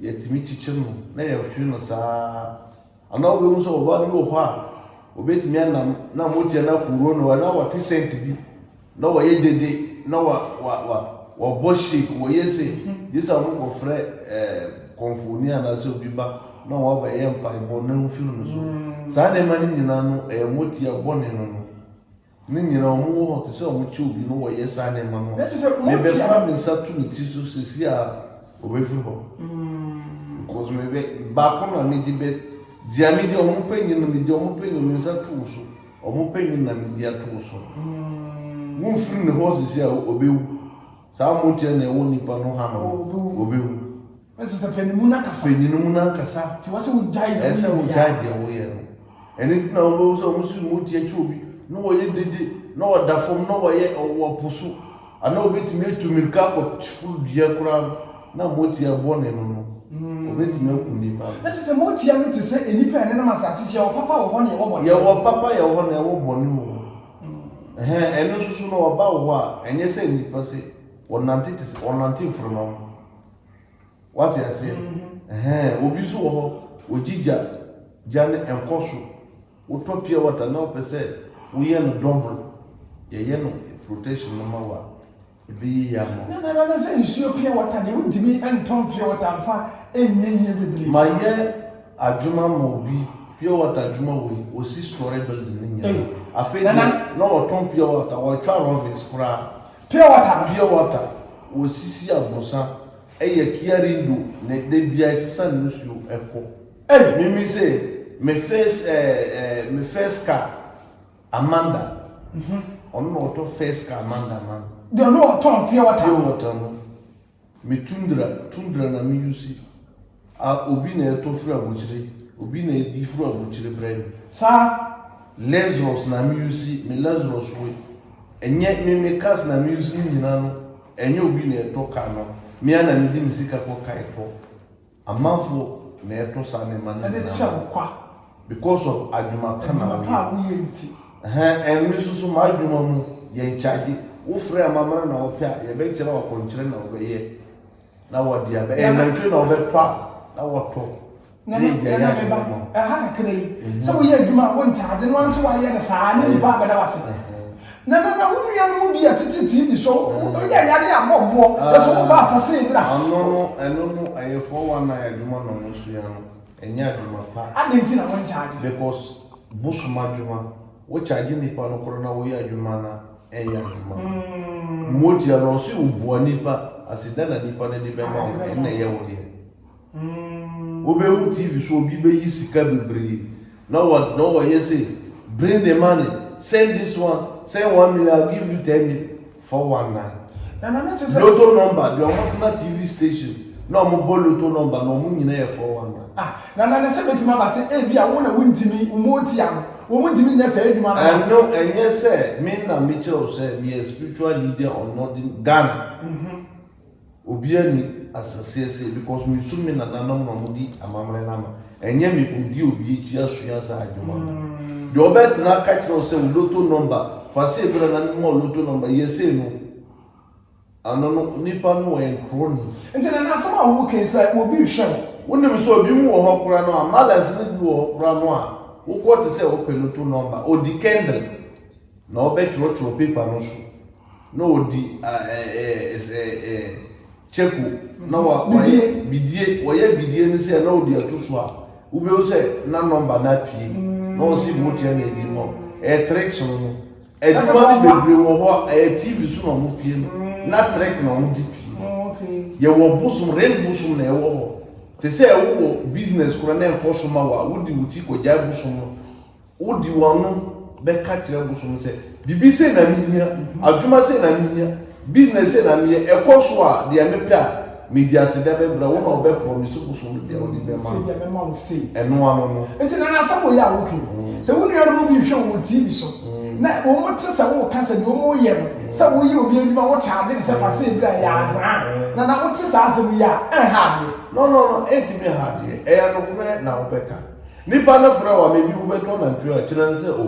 Yɛtumi kyekyɛ no na yɛtwe no saa ara. Anaa wobɛhu sɛ ɔbaa bi wɔ hɔ a, ɔbɛtumi anam na mogya no aporo no anaa wate sɛnt bi na wɔyɛ dede na wa, wa, wa, wɔbɔ shake, wɔyɛ se, gye sɛ wɔkɔfrɛ eh, kɔmfooni anaasɛ obi ba na wɔabɛyɛ mpaebɔ na ɛmfiri no so. Saa nneɛma no nyinaa no, ɛyɛ motia bɔne no no. Ne nyina ɔmo wɔ hɔ te sɛ ɔmo kyɛ obi no wɔyɛ saa nneɛma no a, me bɛ fa me nsa to me ti so sɛsi ara ɔbɛ firi hɔ because me bɛ baako na me di bɛ dia me di ɔmo pɛ nyina me di ɔmo pɛ nyina me nsa to wo so ɔmo pɛ nyina me di ato wo so wo nfiri ne hɔ sɛsi ara ɔbɛ wu saa motia na ɛwɔ nipa no ha no ɔbɛ wu. Ɛnso pɛpɛ ne mu n'ankasa. Pɛ ne mu n'ankasa. Nti ɛwɔ sɛ wogyae deɛ woyɛ biara. Ɛsɛ wogyae deɛ woyɛ no. Ɛno nti na wobɛhu sɛ wɔn si wɔn ti akyi obi na wɔyɛ dede na wɔda fam na wɔyɛ wɔ po so anaa obetumi atu mirika akɔforo dua koraa no na motia bɔne no no obetumi aku nnipa. Ɛnso pɛ motia no te sɛ nnipa a ɛnenam asase so yɛwɔ papa wɔ hɔ na yɛwɔ bɔne wɔ hɔ. Yɛwɔ papa yɛwɔ hɔ na yɛwɔ bɔne wɔ hɔ. Ɛhɛn ɛno nso so no wɔba wɔ hɔ a ɛnyɛ sɛ nnipa sɛ wɔnante te sɛ wɔnante mframa mu. Wate aseɛ? Ɛhɛn, obi nso wɔ hɔ, ɔgye gya, gya no ɛnkɔ so. Wotɔ pure water na wopɛ sɛ woyɛ no double, yɛyɛ no protection no ma wo a, ɛbɛyɛ yie ama wo. Nana na sɛ nsuo pure water deɛ wontumi ntɔn pure water mfa nyɛ yie bebree saa. Mayɛ adwuma ma obi, pure water adwuma wɔ yi, ɔsi storey building no nyinaa. Ei, Afei deɛ Nana. na ɔtɔn pure water, ɔtwa rovin's koraa. Pure water no. Pure water wɔ sisi abrosa ɛyɛ kiarindo na da biaa ɛsesa ne nsuo ɛkɔ. Ei me me se me first eh eh me first car Amanda ɔno na ɔtɔ first car Amanda ma me. Deɛ ɔno ɔtɔn pure water no. Pure water no. Me tundra, tundra na me yusi a obi na ɛtɔ firi abokyire, obi na ɛdi firi abokyire brɛ me saa Lazarus na me yusi, me Lazarus we ɛnyɛ me me cars na me yusi ne nyina no ɛnyɛ obi na ɛtɔ car no, me ara na me di me sika kɔ kae tɔ. Amanfo na ɛto saa nneɛma no nyinaa. Ɛde kyɛ wo kwa. Because of adwuma pa na woyɛ. Adwuma pa a woyɛ nti. Ɛhɛn, ɛn me nso so m'adwuma mu, yɛn charge. Wo frɛ amammerɛ na wopɛ a, yɛbɛkyerɛ wo akɔnkyerɛ na wobɛyɛ na wɔde aba. Ɛyɛ nantwie na wɔbɛtɔ a, na wɔtɔ. Nana, nana me ba, ɛha kakra yi, sɛ woyɛ adwuma a wɔn charge no, wɔn nso wɔayɛ no saa, ne nipa abɛda w'ase. Na na na wo nua no mu bi yɛ tete TV so oyɛ yare a bɔ boɔ na sɛ wobɔ afa sɛ ebira. Ano no ɛno no ɛyɛ four one nine adwuma na ɔmo sua no ɛnyɛ adwuma pa. Adɛn nti na wɔn charge. Because bosom adwuma wo charge nipa no korɔ na wo yɛ adwuma no a ɛnyɛ adwuma pa. Motia no ɔse wo boa nipa ase dɛn na nipa no de bɛma wo ɛna ɛyɛ wo deɛ. Wobɛhu TV so obi bɛyi sika bebree na ɔyɛ sei, bring the money, send this one, send one million, I'll give you ten million, 419. Lotto number deɛ wɔtena TV station na wɔbɔ lotto number na wɔn nyinaa yɛ 419. Ah, na na sɛ bɛtumi aba sɛ ebi a wo na wontumi mmɔɔtia no, wɔn ntumi nyɛ saa adwuma no. Ɛno ɛnyɛ sɛ me na mekyerɛ wo sɛ meyɛ spiritual leader on Northern Ghana. Obia nni asaseɛ sei because mesu me nananom na ɔmo di amammerɛ no ano ɛnyɛ me kɔdi obi akyi asua saa adwuma no deɛ ɔbɛtena aka kyerɛ wo sɛ wo loto nɔmba fa sei bra na mema wo loto nɔmba yɛ sei no ano no nipa no ɔyɛ nkroni Nti na n'asɛm a wo kɛn sɛ obi rehwɛ wo. Wonim sɛ obi mu wɔ hɔ koraa no a malɛs no bi wɔ hɔ koraa no a wokɔ te sɛ wopɛ loto nɔmba ɔdi kɛndle na ɔbɛtwerɛtwerɛ paper no so. Na ɔdi kyɛko na wayɛ bidie, wɔyɛ bidie no sɛ na ɔdi ɛto so a, wobɛhu sɛ na nɔmba no apue. Na wɔn si vote yɛ na ɛdi no, ɛyɛ tricks no no. Adwuma no bebree wɔ hɔ a, ɛyɛ TV so na wɔn pue no, na trick na wɔn de pue. Yɛwɔ bosom, ring bosom na ɛwɔ hɔ. Te sɛ wowɔ business koraa na ɛnkɔ so ma wo a, wode wo ti kɔgyae bosom no. Wode w'ano bɛka kyerɛ bosom sɛ, Biribi sei na mehia, adwuma sei na mehia, business sei na meyɛ, ɛkɔ so a, deɛ mepɛ a, medi ase da bɛbrɛ wo na wobɛ promise bosom no deɛ wode bɛma no. Ɛno ano no. Nti na n'asɛm wɔ yi a woka yi, sɛ wo nua no mu bi hwɛ wo wɔ TV so, na wɔn te sɛ woka sɛ deɛ wɔn yɛ no, sɛ woyɛ obi adwuma wo charge no sɛ fa sɛ ebira yɛ azaa, na na wote saa asɛm yi a, ɛnha adeɛ. No no no, ɛntumi nha adeɛ, ɛyɛ nokorɛ na wobɛka. Nipa no frɛ wo a, maybe wobɛtɔ nantwie a, kyerɛ no sɛ, O,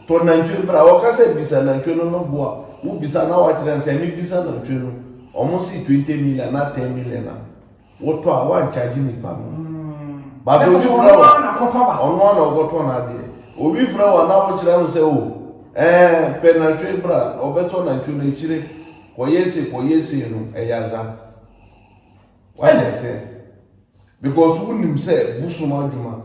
tɔ nantwie bra. Ɔka sɛ, Bisa nantwie no no bo a, wobisa na woakyerɛ no sɛ, mebisa nantwie no, wɔn se twenty million anaa ten million a, wotɔ a, woankyagye nipa no. But obi frɛ wo a, ɔno ara na ɔkɔtɔ n'adeɛ. Obi frɛ wo a na wokyerɛ no sɛ, O, ɛɛ, pɛ nantwie bra, ɔbɛtɔ nantwie no, akyire, kɔyɛ sei, kɔyɛ sei no, ɛyɛ adza. Wayɛ sɛ because wonim sɛ bosom adwuma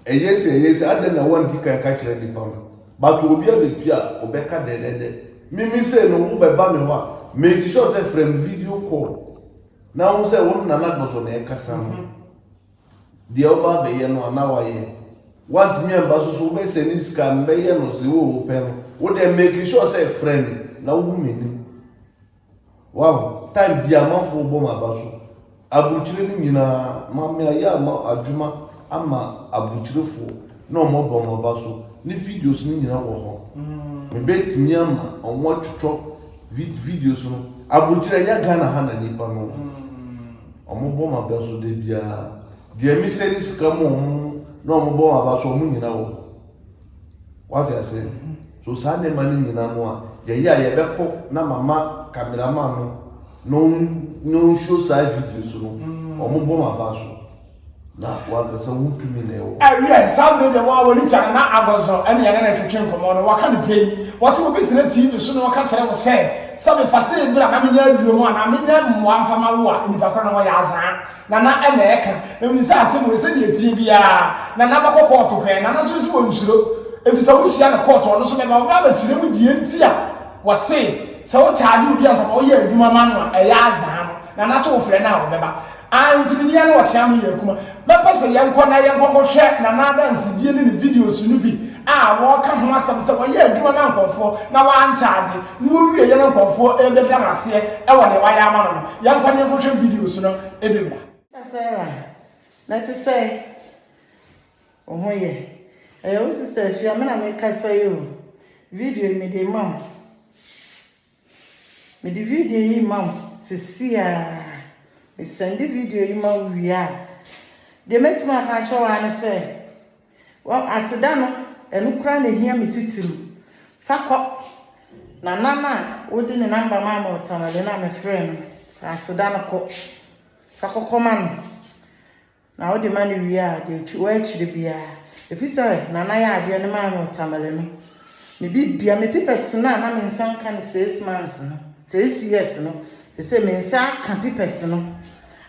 ɛyɛ sɛ ɛyɛ sɛ adɛn na wanti kan ka kyerɛ nipa no but obi abɛpie a ɔbɛka dɛdɛdɛ mimi sɛ no wobɛba me hɔ a make sure sɛ frɛ me video call na ho sɛ wo nana gbɔsɔ na ɛkasa no deɛ ɔba abɛyɛ no ana wayɛ wantumi amba so so wobɛsɛ ne sika mbɛyɛ no sɛ wo wopɛ no wo deɛ make sure sɛ frɛ me na wohu m'anim Wahu, time biaa amanfoɔ bɔ m'aba so, aburukyire no nyinaa, Maame ayɛ ama adwuma ama aburukyirefoɔ na wɔn abɔ m'aba so, ne videos no nyinaa wɔ hɔ, me bɛ tumi ama wɔn atwitwɔ vid videos no, aburukyire ɛnyɛ Ghana ha na nipa no, wɔn bɔ m'aba so da biaa, deɛ me sɛne sika ma wɔn na wɔn bɔ m'aba so wɔn nyinaa wɔ hɔ. Wate ase? So saa nneɛma no nyinaa mu a, yɛyɛ a yɛbɛkɔ na mama kameraman no na ɔn na ɔnsuo saa videos no, wɔn bɔ m'aba so. Na wankasa wo tumi na ɛwɔ. Ɛwiɛ, saa bere deɛ wɔn a wɔn ani gya no na agɔzɔ ɛne yɛne no retwetwe nkɔmmɔ no, wɔka no pɛn. Wɔte obi tena TV so na ɔka kyerɛ wo sɛ, Sɛ mefa sei bra na menya aduro mu anaa menya mmoa mfa ma wo a, nnipa korɔ no wɔyɛ azaa. Nana ɛna ɛka ɛhu sɛ asɛm wei sɛdeɛ ɛteɛ biara Nana bɛkɔ kɔɔto pɛɛ Nana nso nso ɔnsuro ɛfiri sɛ wohyia no kɔɔto ɔno nso bɛba wobɛ abɛkyerɛ mu deɛ nti a wɔse sɛ wo kyaade obi ansa na ɔyɛ adwuma ma no a ɛyɛ azaa no Nana sɛ wofrɛ no a ɔbɛba Ah nti me deɛ no ɔtea me yɛ akuma mɛpɛ sɛ yɛnkɔ na yɛnkɔ kɔhwɛ Nana adansedie ne ne videos no bi a wɔka ho asɛm sɛ wɔyɛ adwuma ma nkɔfoɔ na wɔankyaade Na owie yɛ na nkurɔfoɔ rebɛda no aseɛ wɔ deɛ wayɛ ama no no. Yɛnkɔ na yɛnkɔhwɛ videos no bi mmra. Sarah, na ɛte sɛn? Wo ho yɛ? Ɛyɛ wo sista Afia, me na mekasa yi o. Video yi mede rema wo. Mede video yi rema wo sisi a. Mesɛnde video yi ma wo wie a, deɛ mɛtumi aka akyerɛ wo ara ne sɛ, O, aseda no, ɛno koraa na ehia me titiriw. Fa kɔ, na nan a wode ne namba maa me wɔ Tamale no a mefrɛɛ no no, fa aseda no kɔ. Fa kɔkɔma no. Na wode ma no wie a, deɛ ɛwɔ akyire biara. Efisɛ Nana yɛ adeɛ no maa me wɔ Tamale no, Me bibia, me pipɛs no a na me nsa nka no seis mans no, seis years no, sesei me nsa aka pipɛs no.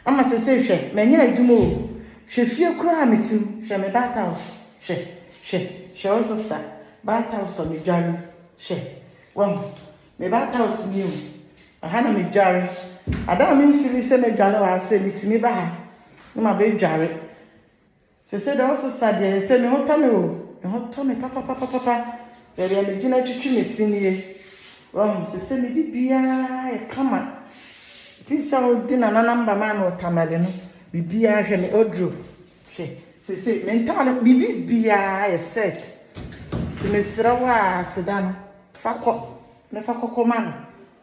Ama sesei hwɛ, manya adwuma o, hwɛ fie koraa a mete mu, hwɛ me bat house, hwɛ, hwɛ, hwɛ wo sista, bat house a medware mu, hwɛ, wahu, me bat house nie o, ɛha na medware, ada a memfili sɛ mɛdware wɔ ha sɛ metumi ba ha na mabɛdware. Sesei deɛ wo sesa deɛ ayɛ sɛ me ho tɔ me o, me ho tɔ me papapapapa, baabi a me gyina twitwi me se nie, wahu, sesei me bibiaa yɛ kama, ɛfiri sɛ wo de Nana number maa me wɔ Tamale no, bibiaa hwɛ me oduro, hwɛ, sesei me ntaade, me bibiaa yɛ set, nti me serɛ wo a, aseda no, fa kɔ, me fa kɔkɔ ma no.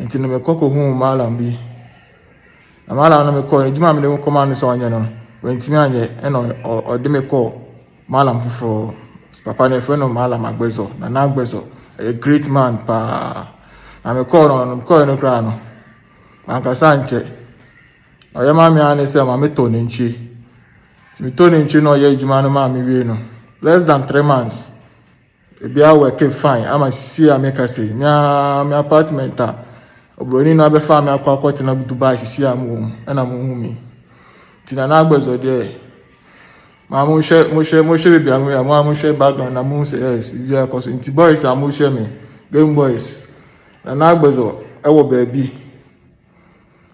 Nti no mekɔ kɔhuu Mallam bi. Na Mallam no mekɔɔ no, adwuma a mede kɔmaa no sɛ ɔnyɛ no, wantumi anyɛ. Ɛna ɔde me kɔɔ Mallam foforɔ. Papa no yɛfrɛ no Mallam Agbɛzɔ, Nana Agbɛzɔ. Ɛyɛ great man paa. Na mekɔɔ no no, mekɔɔ no koraa no, mankasa ankyɛ. Ɔyɛ maa me ara ne sɛ ma metɔ nantwie. Nti metɔ nantwie na ɔyɛ adwuma no maa me wie no, less than three months. Ebi awɔke fine ama sisi a meka sei me ara me apartment a oburoni no abɛfa me akɔ akɔtena Dubai sisi a mowɔ mu ɛna mohu me nti na n'agbɛzɔ deɛ maa mohwɛ mohwɛ mohwɛ baabi a moyɛ a mo a mohwɛ background na mohu sɛ yes biribi akɔ so nti boys a mohwɛ me game boys na n'agbɛzɔ ɛwɔ baabi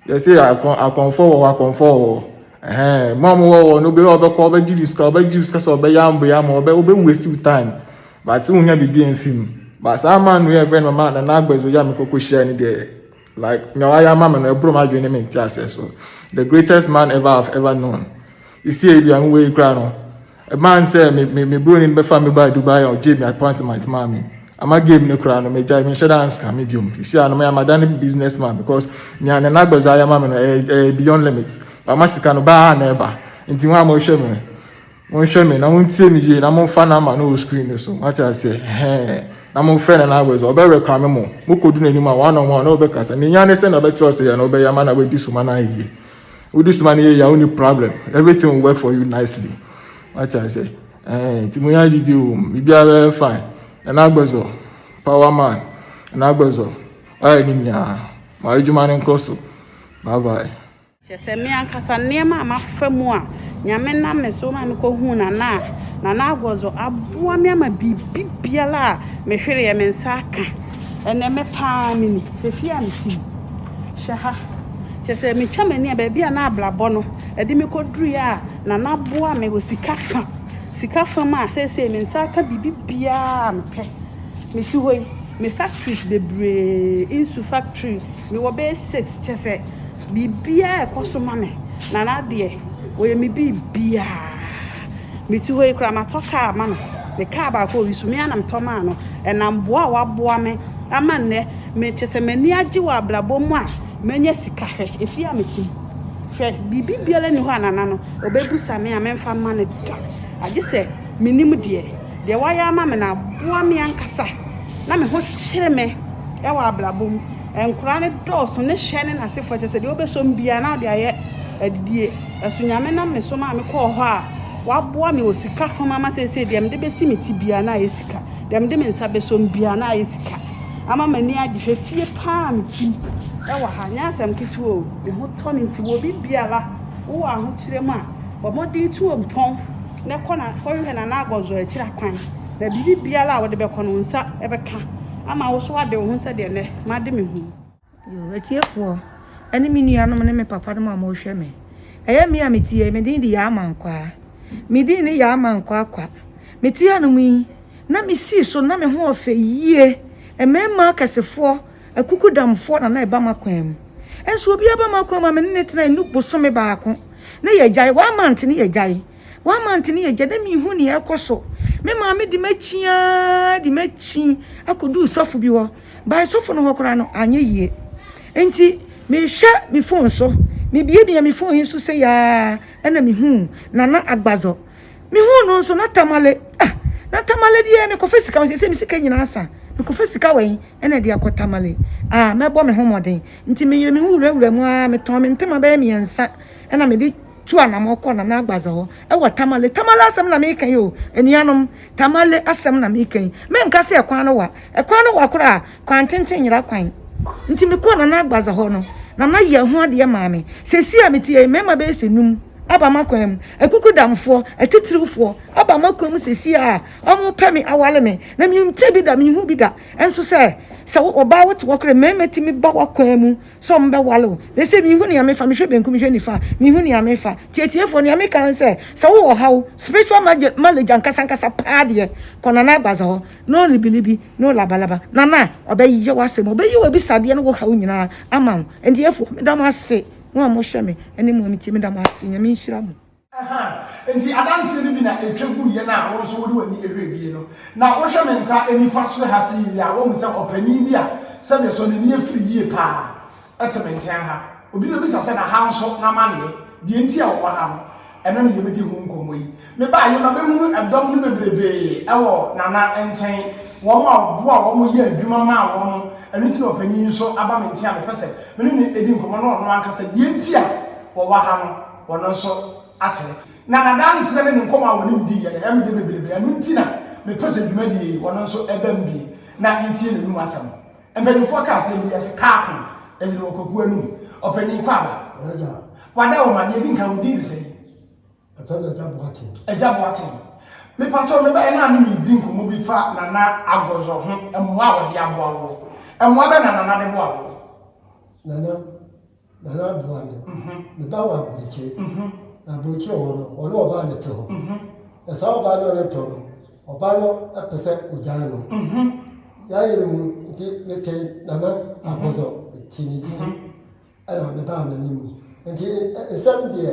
Yɛse akɔn akɔnfoɔ wɔ hɔ akɔnfoɔ wɔ hɔ ɛhɛn mo a mo wɔ hɔ no obi a ɔbɛkɔ ɔbɛgye bi sika ɔbɛgye bi sika sɛ ɔbɛyɛ ambo yɛ ama ɔbɛ ɔbɛ waste wo time but wonya biribi amfi mu but saa man no yɛ fɛ no mama nana agbadzo yi a mekɔ kɔ hyia no deɛ like nea wayɛ ama me no ɛboro m'adwene ne me nteaseɛ so the greatest man ever have ever known sesie yi deɛ me wɔ yi koraa no. Ɛbaa no sɛ me me me broni no bɛfa me baa Dubai a ɔgyee me apartment maa me. Ama game no koraa no megyae menhyɛ da anska me biom. Sisi a no maya madane business man because nea Nana Agbazu ayɛ ama me no ɛyɛ ɛyɛ beyond limit. Wama sika no baa a na ɛba. Nti wɔn a mohwɛ me no monhwɛ me na montie me yie na momfa number no wɔ screen no so. Moate aseɛ? Ɛhɛɛ. Na momfrɛ Nana Agbazu ɔbɛ reclame mo. Mokɔdu n'anim a one on one na ɔbɛkasa. Nea ohia ne sɛ na ɔbɛkyerɛ wo sɛ yɛ na wobɛyɛ ama na wadi so ma no ayɛ yie. Wo this man yɛ yɛ a wo ni problem everything will work for you nicely. Wate ase ɛɛ nti mo yɛ agyidi o biribiara bɛyɛ fine ɛna agbɛzɔ power man ɛna agbɛzɔ wayɛ ne nyinaa ma adwuma no nkɔ so bye bye. Kyerɛ sɛ me ankasa nneɛma a mafa mu a Nyame nam me so ma mekɔ huu Nana a Nana Agbɔzɔ aboa me ama biribi biara a mehwereɛ me nsa aka ɛnɛ me paa me ni fefie a mete mu. Hwɛ ha. Kyerɛ sɛ, metwa m'ani a, baabi a na abrabɔ no de me kɔduruiɛ a, Nana aboa me wɔ sika fa. Sika fa mu a, seesei me nsa aka biribiara a mepɛ. Mete hɔ yi, me factories bebree, nsu factory, mewɔ bɛyɛ six. Kyerɛ sɛ, biribiara rekɔ so ma me. Nana deɛ, ɔyɛ me biribiara. Mete hɔ yi koraa matɔ kaa ama no. Ne kaa baako a ɔyi so, me ara na metɔ maa no. Ɛnam boa a waboa me ama nnɛ me kyɛ sɛ m'ani agye wɔ abrabɔ mu a manya sika. Hwɛ efie a mete mu. Hwɛ biribi biara nni hɔ a Nana no ɔbɛbisa me a memfa mma no da. Agye sɛ menim deɛ deɛ wayɛ ama me no aboa me ankasa na me ho kyere me wɔ abrabɔ mu. Nkwadaa no dɔɔso, ne hwɛ ne n'asefoɔ, kyerɛ sɛ deɛ wobɛsɔ me biara na wode ayɛ adidie. Nanso Nyame nam me so maa mekɔɔ hɔ a, waboa me wɔ sika fam ama seesei deɛ mede bɛsi me ti biara na ayɛ sika, deɛ mede me nsa bɛsɔ mu biara na ayɛ sika. Ama m'ani agye, hwɛ fie pa ara a metim wɔ ha, nyɛ asɛm ketewa o, me ho tɔ me nti wɔ biribiara, wowɔ ahokyerɛ mu a, bɔ mmɔden tu wo mpɔn. na kɔ na kɔhwehwɛ Nana Agɔzɔ akyiri akwan, na biribi biara a wode bɛkɔ no, wo nsa bɛka ama wo so ade wo ho sɛdeɛ nnɛ made me ho yi. Yoo, atiefoɔ, ɛne me nuanom ne me papanom a wɔrehwɛ me. Ɛyɛ me a mete ha yi, me din de Yaa Mankwaa. Me din ne Yaa Mankwaa Kwa. Mete hanom yi, na mesi so na me ho yɛ fɛ yie. Mmarima akɛsefoɔ Akukudamfoɔ na na ɛba m'akwan mu. Nso obi aba m'akwan mu a me ne ne tena ɛnu bosome baako ne yɛgyae one month ne yɛgyae one month ne yɛgyae na mehu nea ɛkɔ so me maame de m'akyi aa de m'akyi akɔduu sɔfo bi hɔ bae sɔfo no hɔ koraa no anyɛ yie nti mehwɛ me phone so mebiebie me phone yi so sɛ yaa ɛna mehu nana agbazɔ me hu no nso na tamale ah na tamale deɛ me kɔfɛ sika wɔn sɛ me sika nyinaa sa me kɔfɛ sika wɔn ɛna deɛ akɔ tamale ah mɛbɔ me ho mɔden nti me yere me hu wurawura mu ah me tɔn me ntoma bɛyɛ mmiɛnsa ɛna me de tu anamɔ kɔ nana agbaza hɔ ɛwɔ tamale tamale asɛm na meka yi o anuanom tamale asɛm na meka yi menka sɛ ɛkwan no wa ɛkwan no wa koraa Kwantenten nyera kwan. Nti me kɔɔ Nana Agbaza hɔ no, Nana yɛ ɛho adeɛ maa me. Sɛsi a mete yɛ mmarima bɛyɛ sɛ num aba m'akwan mu. Akukudamfoɔ, atitiriwfoɔ aba m'akwan mu sɛsi a wɔn pɛ me aware me. Na me nte bi da, me nhu bi da nso sɛ, sɛ wo ɔbaa wote hɔ kora mmarima tumi ba w'akwan mu sɛ wɔn bɛ ware wo. Na ɛsɛ me nhu nea mefa, mehwɛ benku, mehwɛ nifa, me hu nea mefa. Nti atiefoɔ nea meka ne sɛ, sɛ wo wɔ ɔhaw, spiritual malady ankasa ankasa paa deɛ, kɔ Nana Agbaza hɔ. na ɔrebiribi, na ɔlabalaba, na na ɔbɛyɛ w'asɛm, ɔbɛyi w'abisadeɛ ne wo haw nyinaa ama wo. Ɛndeɛfoɔ, meda mo ase, mo a mohwɛ me ne mo a motie meda mo ase, Nyame nhyira mo. Ahaa, nti adanseɛ no bi na ɛtwa guiɛ no a wo nso wode w'ani hwɛ bie no, na wohwɛ me nsa nifa so ha sei a, woahu sɛ ɔpanin bi a sɛdeɛ ɛsɔ n'ani afiri yie pa ara. Te me nkyɛn ha. Obi bɛbisa sɛ, na ha nso, n'amanneɛ, deɛ nti a wɔwɔ ha no, ɛno na yɛbɛdi ho nkɔmmɔ yi. Mebaeɛ ma bɛhunu ɛdɔm no bebrebee wɔ Nana nkyɛn, wɔn a ɔboa wɔn yɛ adwuma maa wɔn, ɛno nti na ɔpanin yi nso aba me nkyɛn a mepɛ sɛ me ne no di nkɔmmɔ na ɔno ankasa, deɛ nti a wɔwɔ ha no, ɔno nso akyerɛ. Na n'adanseɛ ne ne nkɔmmɔ a ɔne me diiɛ no, ɛyɛ me dɛ bebrebee, ɛno nti na mepɛ sɛ dwumadie yi, ɔno nso bam bi na yɛtie n'anom asɛm. Mpanimfoɔ ka asɛm bi sɛ kaa ko ɛgyina wɔ kwakuo anum. Ɔpanyin Kwaba. Wada. Wada wɔ ma deɛ di nkan wo din de sɛn? Ɛfɛ na Agya Boaten. Agya Boaten. Mepatɔ meba ɛna ne mi di nkɔmɔ bi fa Nana Agɔzɔ ho mmoa a wɔde aboa woɔ. Mmoa bɛ na Nana de boa woɔ? Nana Nana Aboagye, me ba wɔ Aburokyi, na Aburokyi hɔ no, ɔne ɔbaa na ɛte hɔ. Na saa ɔbaa no a ɔne tɔ no, ɔbaa no pɛ sɛ ɔgyaa no. Yaayɛ no mu nti, metee Nana Agbɔdɔ, metee ne din, ɛna mebaa n'anim. Nti nsɛm deɛ.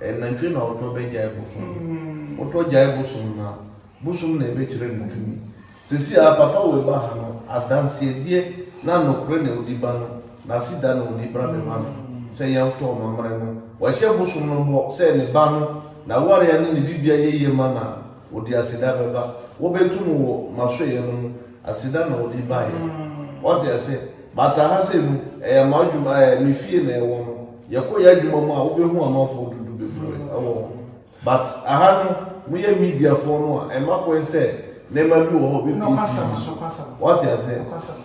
Ɛyɛ nantwie na ɔtɔ bɛgyae bosom. Wotɔ gyae bosom no a, bosom na ɛbɛkyerɛ no tumi. Seesei ara Papa Wei ba ha no, adanseɛdeɛ na nokorɛ na ɔdi ba no, n'aseda na ɔdi bra bɛma no sɛ yɛntɔ amammerɛ no. Wahyɛ bosom no bɔ sɛ ne ba no, n'awareɛ ne ne biribiara yɛ yie ma no a, ɔde aseda bɛba. Wobɛto mu wɔ m'asɔeɛ no mu, aseda na ɔde baeɛ. Woate aseɛ? But aha sei no, ɛyɛ m'adwuma, ɛɛ, me fie na ɛwɔ no. Yɛkɔ yɛ adwuma mu a wobɛhu amafo dodo bebree wɔ hɔ but aha no mo yɛ media foɔ no a ɛma kwan sɛ nneɛma bi wɔ hɔ bɛpie TV wate aseɛ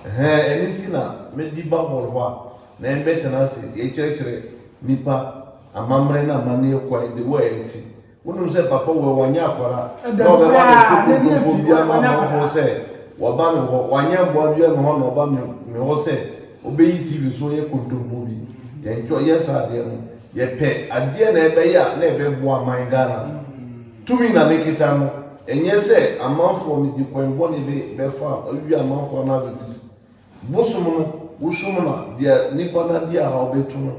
ɛhɛn ɛno nti na me de ba hall hɔ a na yɛn bɛtena ase yɛkyerɛkyerɛ nipa amamerɛ na amaneɛ kwan de wɔ ɛte Wonim sɛ Papa wɔ he, wanyɛ akwara, na ɔbɛma me nkontompofoɔ biaa ama amanfoɔ sɛ waba me hɔ, wanyɛ mboa biaa me hɔ na ɔba me hɔ sɛ ɔbɛyi TV so yɛ kontompo bi. Yɛntwa yɛ saa adeɛ no. Yɛpɛ adeɛ na ɛbɛyɛ a na ɛbɛboa man Ghana. Tumi na mekita no, ɛnyɛ sɛ amanfoɔ mede kwan bɔne bɛfa awie amanfoɔ anaa biribi. Bosom no, wosom no a, deɛ nipa no adi ahaw bɛto no,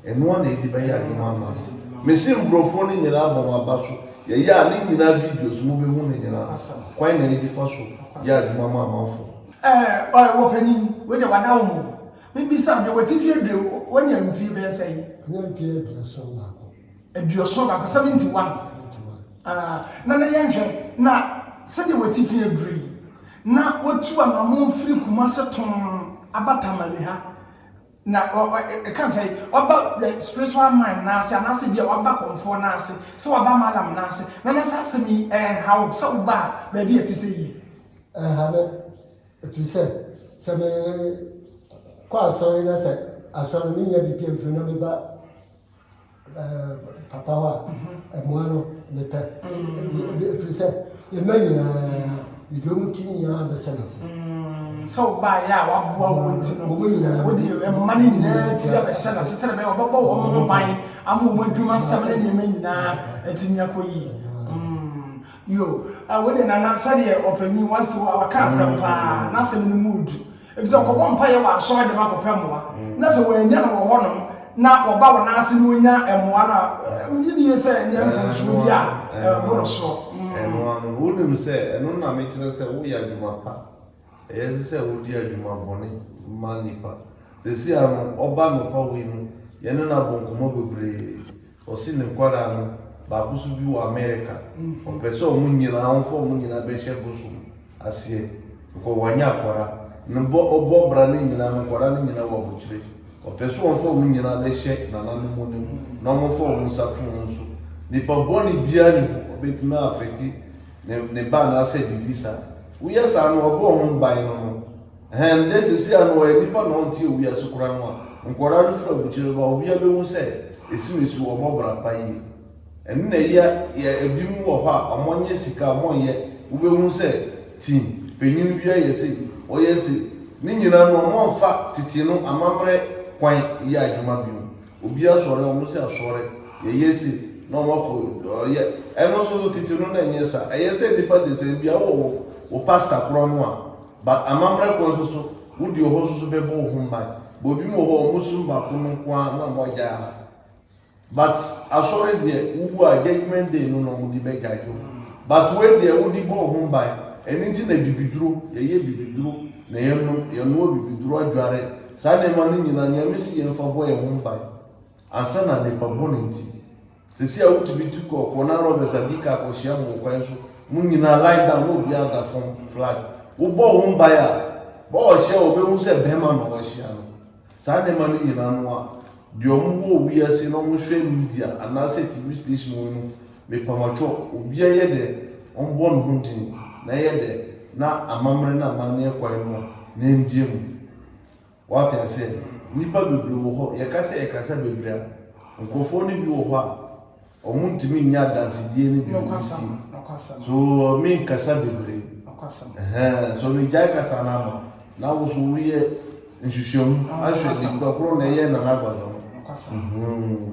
ɛno ara na ɛdi bɛyɛ adwuma ama no. Mese mbrɔfoɔ no nyinaa bɔ wɔn aba so, yɛyɛ a ne nyinaa videos mobɛhu no nyinaa, kwan na yɛde fa so yɛ adwuma ma amanfoɔ. Ɛɛ ɔyɛ wɔ panin, wei deɛ wada wo mo. Mebisa wo deɛ w'atifie aduro, wanya mfie bɛyɛ sɛn? Ɛnyɛ mfie aduasa baako. aduɔson baako, 71. Ah, na na yɛnhwɛ, na sɛdeɛ watifi aduro yi, na watu anamo firi kuma se tom aba tamale ha. Na ɛka sɛ waba spiritual man n'ase anaasɛ bi a waba kɔmfoɔ n'ase sɛ waba malam n'ase na na saa asɛm yi ɛnha wo sɛ woba a baabi a ɛte sɛ yie. Ɛnha me ɛfiri sɛ sɛ me kɔ asɔre na sɛ asɔre menya biribi amfiri na meba Papawa a, mmoa no mepɛ. Ɛfiri sɛ mma nyinaa mede wɔn ti nyinaa bɛhyɛ m'ase. Sɛ wobaeɛ a waboa wo nti no, wode mma no nyinaa ti abɛhyɛ n'ase sɛdeɛ ɛbɛyɛ wɔbɛbɔ wɔn ho ban ama wɔn adwuma sɛm ne nneɛma nyinaa atumi akɔ yie. Yo, wei deɛ Nana sɛdeɛ ɔpanin waka asɛm paa, n'asɛm no mu yɛ duru. Efisɛ ɔkɔbɔ mpaeɛ wɔ asɔre dɛm akɔpɛ mmoa, na sɛ wɔannya no wɔ hɔnom na ɔba wɔn ase na ɔnya mmoa no a, wogye di yie sɛ nneɛ mfomsoɔ bi a ɛboro soɔ. Ɛno ara no, wonim sɛ ɛno na mekyerɛ sɛ woyɛ adwuma pa. Ɛyɛ sɛ sɛ wodi adwuma bɔne ma nnipa. Seesei ara no, ɔba anɔpa wei no, yɛne no abɔ nkɔmmɔ bebree. Ɔse ne nkwadaa no baako nso bi wɔ America ɔpɛ sɛ ɔmo nyinaa ɔmfa ɔmo nyinaa bɛhyɛ bosom aseɛ because wanya akwadaa no bɔ ɔbɔ bra no nyinaa no nkwadaa no nyinaa wɔ abokyire ɔpɛ sɛ ɔmfa ɔmo nyinaa bɛhyɛ nananom no mu na ɔmo fa ɔmo nsa to ɔmo so nipa bɔne biara ne hɔ ɔbɛtumi afɛti ne ne ba anaasɛ biribi saa woyɛ saa no ɔbɔ ɔmo ban no no Hɛn dɛ seseiara no ɔyɛ nyimpa na ɔnntse owia ase koraa no a, nkwadaa no fir abukyir reba, owia behu sɛ esim esu, wɔbɔ bra pa yie. Ndɛnyɛ yɛ binom wɔ hɔ a wɔnnyɛ sika, wɔnnyɛ, wobehu sɛ tsin panyin bi ayɛ sei, ɔyɛ sei. Ne nyina no wɔmmfa tsetse no amammerɛ kwan nnyɛ adwuma bio. Obi asɔre a, wɔn se asɔre, yɛyɛ sei, na wɔn akɔ ɔyɛ. Ɛno nso so tsetse no na ɛnnyɛ sa. Ɛyɛ sɛ nyimpa desɛn bi a, wowɔ wo pastor koraa no a, But amammerɛ kwan so so wo deɛ ɔhɔ so so bɛbɔ wo ho mban but obi mu wɔ hɔ ɔmo som baako no nko ara na ɔmo agyae ama but asɔre deɛ wowu a judgement day no na ɔmo de bɛ judge wo but wei deɛ wode bɔ wo ho mban ɛno nti na bibiduro yɛyɛ bibiduro na yɛnom yɛnoa bibiduro adware saa nneɛma no nyinaa nea mesi yɛmfa bɔ yɛn ho mban ansa na nnipa bɔne nti. Sesei a wotumi tu kɔ Corner Robbers a di ka kɔ hyia mu wɔ kwan so, mo nyinaa lie down na obiara da fam flat. Wo bɔ wo mbae a, bɔ ɔhyɛ a wɔbɛhu sɛ bɛɛma na wɔahyia no. Saa nneɛma no nyinaa no a, deɛ wɔn wɔ wɔ wi ase na wɔn hwɛ media anaa sɛ TV station wɔ yi no, me pamatwɔ, obiara yɛ dɛ wɔn bɔ ne ho din na ɛyɛ dɛ na amammerɛ ne amanneɛ kwan no a, na ɛmbie mu. Woate no sɛ nnipa bebree wɔ hɔ, yɛka sɛ ɛkasa bebree a, nkurɔfoɔ no bi wɔ hɔ a, wɔn ntumi nyɛ adansedie no bi nsie. So me nkasa bebree? Ɛhɛn, so me gyae kasa no ama? Na wo so wo yɛ nsusuamu ahwɛ nipa korɔ na ɛyɛ Nana Aguada no? Ɛhɛn.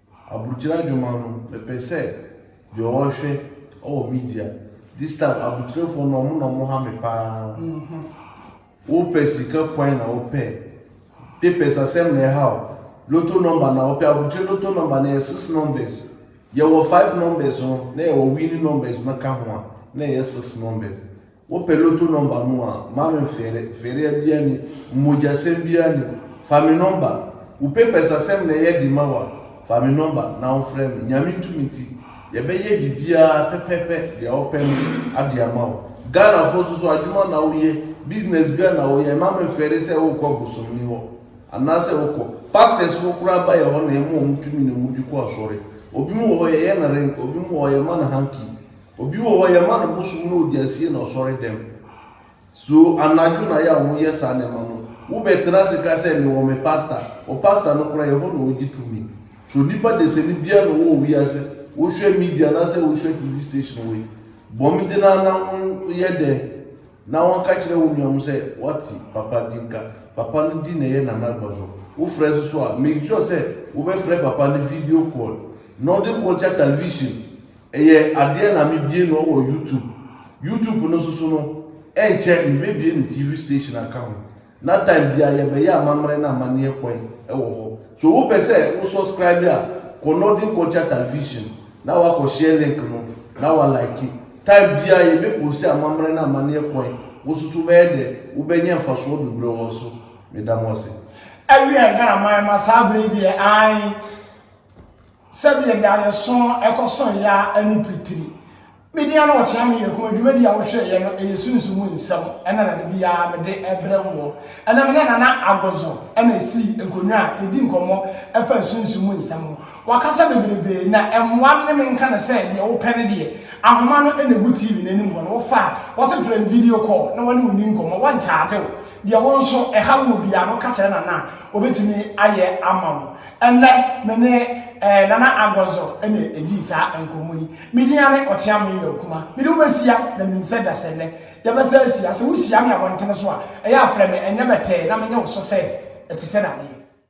Abrukyire adwuma no mepɛ sɛ deɛ ɔhwɛ ɔwɔ media this time abrukyirefo no ɔmo na ɔmo ha me paa wopɛ sika kwan na wopɛ papers asɛm na ɛha o loto number na wopɛ abrukyire loto number na yɛ six numbers yɛwɔ five numbers no na yɛwɔ winning numbers no ka ho a na ɛyɛ six numbers Wo pɛ loto number no a ma me nfɛre, nfɛrea biaa ni, mmogyasɛm biaa ni, fa me number, wo papers asɛm na ɛyɛ de ma wo a, fa me number na wo nfrɛ me, Nyame tumi nti yɛ bɛ yɛ biribiaa pɛpɛpɛ deɛ wo pɛ no ade ama wo, Ghanafoɔ nso so adwuma na wo yɛ, business biaa na wo yɛ, ɛma me nfɛre sɛ wo rekɔ bosomni hɔ anaa sɛ wo kɔ, pastors foɔ koraa ba yɛ hɔ na ɛma ɔmo tumi na ɔmo di kɔ asɔre, obi mo wɔ hɔ yɛ yɛ no ring, obi mo wɔ hɔ yɛ ma no hanky, Obi wɔ hɔ yɛma no bosom na ɔde asie na ɔsɔre dɛm. So anadwo na yɛ a wɔyɛ saa nneɛma no? Wobɛtena ase ka sɛ mewɔ me pasta, wo pasta no koraa ɛhɔ na ɔgye tumi. So nnipa dasani biara na ɔwɔ wiase, wohwɛ media anaasɛ wohwɛ TV station wei, bɔ mmeden ara na wɔyɛ dɛn na wɔka kyerɛ wo nua mu sɛ wate papa bi nka. Papa no din na ɛyɛ Nana Agbaso. Wofrɛ so so a, make sure sɛ wobɛfrɛ papa no video call na ɔde kɔtwa television. Ɛyɛ adeɛ na me bie no wɔ YouTube YouTube no soso no ɛnkyɛ me bɛ bie ne TV station aka ho na time bia yɛ bɛ yɛ amamerɛ na amaneɛ kwan ɛwɔ hɔ so wo pɛ sɛ wo suscribe a kɔ Northern Culture Television na wa kɔ share link no na wa like time bia yɛ bɛ post amamerɛ na amaneɛ kwan wo soso bɛyɛ dɛ wo bɛ nya nfasoɔ bebrɛ wɔ so me da mo ase. Ɛwiɛ Ghana man ma saa bere yi deɛ ae. Sɛdeɛ daeɛso no kɔ so yɛ ara ɛne pitiri. Medi ano wɔ Kyea Me Yɛ Kuma dwumadie a wohwɛeɛ no ɛyɛ sunsum mu nsɛm ɛna na da biara mede ɛbrɛ woɔ. Ɛnɛ me ne Nana Agozo ɛna ɛsi nkonnwa a yɛdi nkɔmmɔ ɛfa sunsum mu nsɛm ho. Wakasa bebrebe na ɛmmoa me ne me nka no sɛ deɛ wopɛ no deɛ ahoma no ɛna ɛgu TV no anim hɔ no wofa a wɔte frɛ no video call na wɔne wo ni nkɔmmɔ wɔnkyagye wo. Deɛ wo nso ɛha wo biara no ka kyerɛ Nana a ɔbɛtumi ayɛ ama wo. Ɛnnɛ, me ne eh, Nana Agwɔzɔ na ɛdii saa nkɔmmɔ yi. Me din ane Ɔkyeame yɛ Okuma. Mede wo bɛsia na menim sɛ da sɛ nnɛ yɛbɛsa asia. Sɛ wohyia me abɔntene so a, ɛyɛ a frɛ me ɛnyɛ bɛtɛɛ na menyɛ wo so sɛ ɛte sɛ dadeɛ.